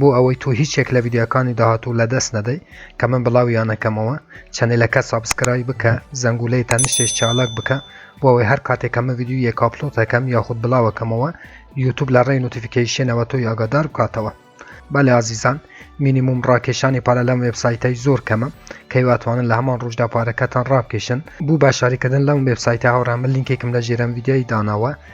بۆ ئەوەی تۆ هیچ یەک لە ڤیدیۆکانی داهاتوو لەدەست نەدەی کە من بڵاویان ئەکەمەوە چەنێلەکە سابسکرایب بکە زەنگولەی تەنشتش چالاک بکە بۆ ئەوەی هەر کاتێک کە من ڤیدیۆ یەک ئاپلۆت ئەکەم یاخود بڵاو ئەکەمەوە یوتوب لە ڕێی نوتیفیکەیشنەوە تۆی ئاگادار بکاتەوە بەلێ ئازیزان مینیموم ڕاکێشانی پارە لەم وێبسایتەی زۆر کەمە کەی واتوانن لە هەمان ڕۆژدا پارەکەتان ڕابکێشن بوو باشاریکردن لەم وێبسایتە هاوڕێ من لینکێکم لە ژێرەم ڤیدیۆی داناوە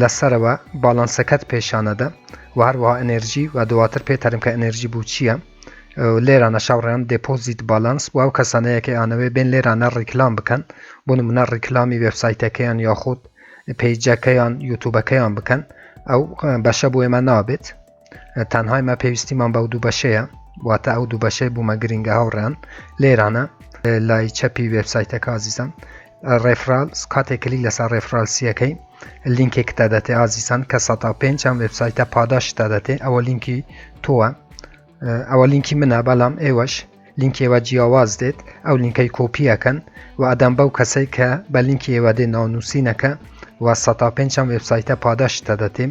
لە سەرەوە باڵانسەکەت پێشانەدە و هەروەها ئەنێرجی و دواتر پێ تەرم کە ئەنێرجی بوو چییە لێرانە شاوڕێیان دێپۆزیت باڵانس و ئەو کەسانەیە کە ئەیانەوێ بێن لێرانە ڕیکلام بکەن بۆ نمونە ڕیکلامی وێبسایتەکەیان یاخود پەیجەکەیان یوتوبەکەیان بکەن ئەو بەشە بۆ ئێمە نابێت تەنهای مە پێویستیمان بەو دوو بەشەیە واتە ئەو دوو بەشەی بوومە گرنگە هاوڕان لێرانە لای چەپی وبسایتە کازیزان ڕێفرال کاتێک کلی لەسەر ڕێفرالسیەکەی لینکێک تا دەتێ ئازیسان کە 5 ئەم وبسایتە پاداش تا دەتێ ئەوە لینکی تۆوە ئەوە لینکی منە بەڵام ئێوەش لینکێوە جیاواز دێت ئەو لینکەی کۆپیەکەن و ئەدەم بەو کەسەی کە بە لینکی ئێوە دێ ناونووسینەکە و 5 ئەم وبسایتە پاداش تا دەتیم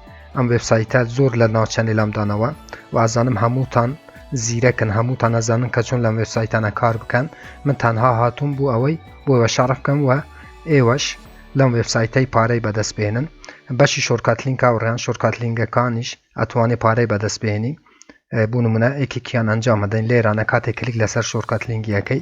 ئەم وێبسایتە زۆر لە ناو چەنێلام دانەوە وازانم هەمووتان زیرەکن هەمووتان ئەزانن کە چۆن لەم وێبسایتانە کار بکەن من تەنها هاتووم بوو ئەوەی بۆەوە شارف بکەم وە ئێوەش لەم وێبسایتەی پارەی بەدەست بێنن بەشی شۆرکاتلینکا و ڕیان شۆرکاتلینگەکانیش ئەتوانێ پارەی بەدەست بێنی بوونممونە ئێکێکیان ئەنجام مەدەین لێرانە کاتێک کلیک لەسەر شۆرکاتلینگیەکەی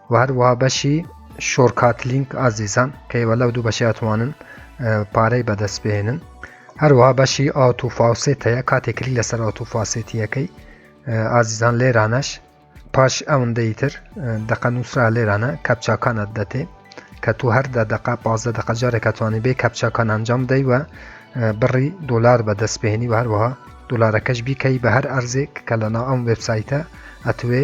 و هەروەها بەشی شۆرکات لینک ئازیزان کە ئێوە لەو دوو بەشی ئەتوانن پارەی بەدەست بهێنن هەروەها بەشی ئاوت و فاوسێت هەیە کاتێک کلی لەسەر ئاوت و فاسێتیەکەی ئازیزان لێرانەش پاش ئەوەندەی تر دەقە نووسرا لێرانە کەپچاکانت دەتێ کە تو هەر دە دقە پازدە دقە جارێکە توانانی بێ کەپچاکان ئەنجام دەی وە بڕی دلار بەدەست بهێنی و هەروەها دلارەکەش بیکەی بە هەر ئەرزێک کە لەنا ئەم وبسایتە ئەتوێ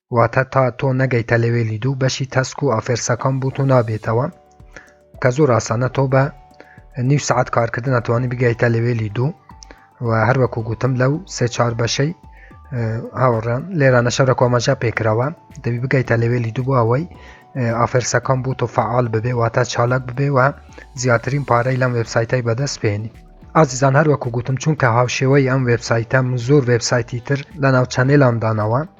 واتە تا تۆ نەگەیتە لەوێلی دوو بەشی تەسک و ئافێرسەکان بوو و نابێتەوە کە زۆر ئاسانە تۆ بە نیو سعات کارکردن ئەتوانی بگەیتە لەوێلی دوو و هەروەکو گوتم لەو سێ چار بەشەی هاوڕێن لێرانە شەرە کۆمەژە پێکراوە دەبی بگەیتە لەوێلی دوو ئەوەی ئافرسەکان بوو تۆ فعال ببێ واتە چالاک ببێ و زیاترین پارەی لەم وبسایتای بەدەست پێێنی ئازیزان هەروەکو گوتم چونکە هاوشێوەی ئەم وبسایتە زۆر وبسایتی تر لە ناو چەنێلامدانەوە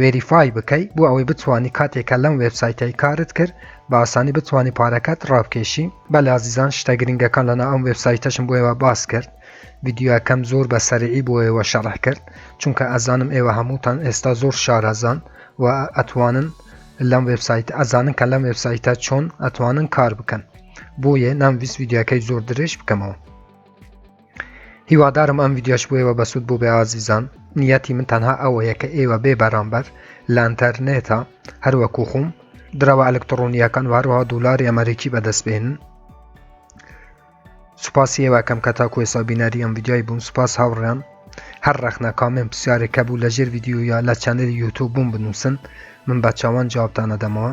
وێریفای بکەی بۆ ئەوەی بتوانی کاتێکە لەم وێبسایتەی کارت کرد بە ئاسانی بتوانانی پارەکەت ڕابکێشی بە لازیزان شتە گرنگەکان لەنا ئەم وێبسایتەشم بۆیەوە باس کرد یددیوەکەم زۆر بە سەرعی بۆیەوە شەڕح کرد چونکە ئەزانم ئێوە هەمووتان ئێستا زۆر شارەزان و ئەتوانن لەم وێبسایت ئەزانن کە لەم وێبسایتە چۆن ئەتوانن کار بکەن بۆیە نامویست یددیوەکەی زۆر درێژ بکەمەوە هیوادارم ئەم ویددیوش بۆیەوە بەسوود بوو بێ ئازیزان نیەتی من تەنها ئەوەیە کە ئێوە بێ بەرامبەر لانتەرنێتە هەروەکو خۆم درەوە ئەلکتڕۆنیەکان وارەوە دولاری ئەمریکی بەدەست بێن سوپاسی ئێوەکەم کە تاکو ێسا بینەری ئەم ویددیای بوون سوپاس هاوڕیان هەر ڕەخنە کامێن پرسیارێکە بوو لە ژێر ویددیویا لە چەنەری یوتوب بووم بنووسن من بە چاوان جوابتانە دەمەوە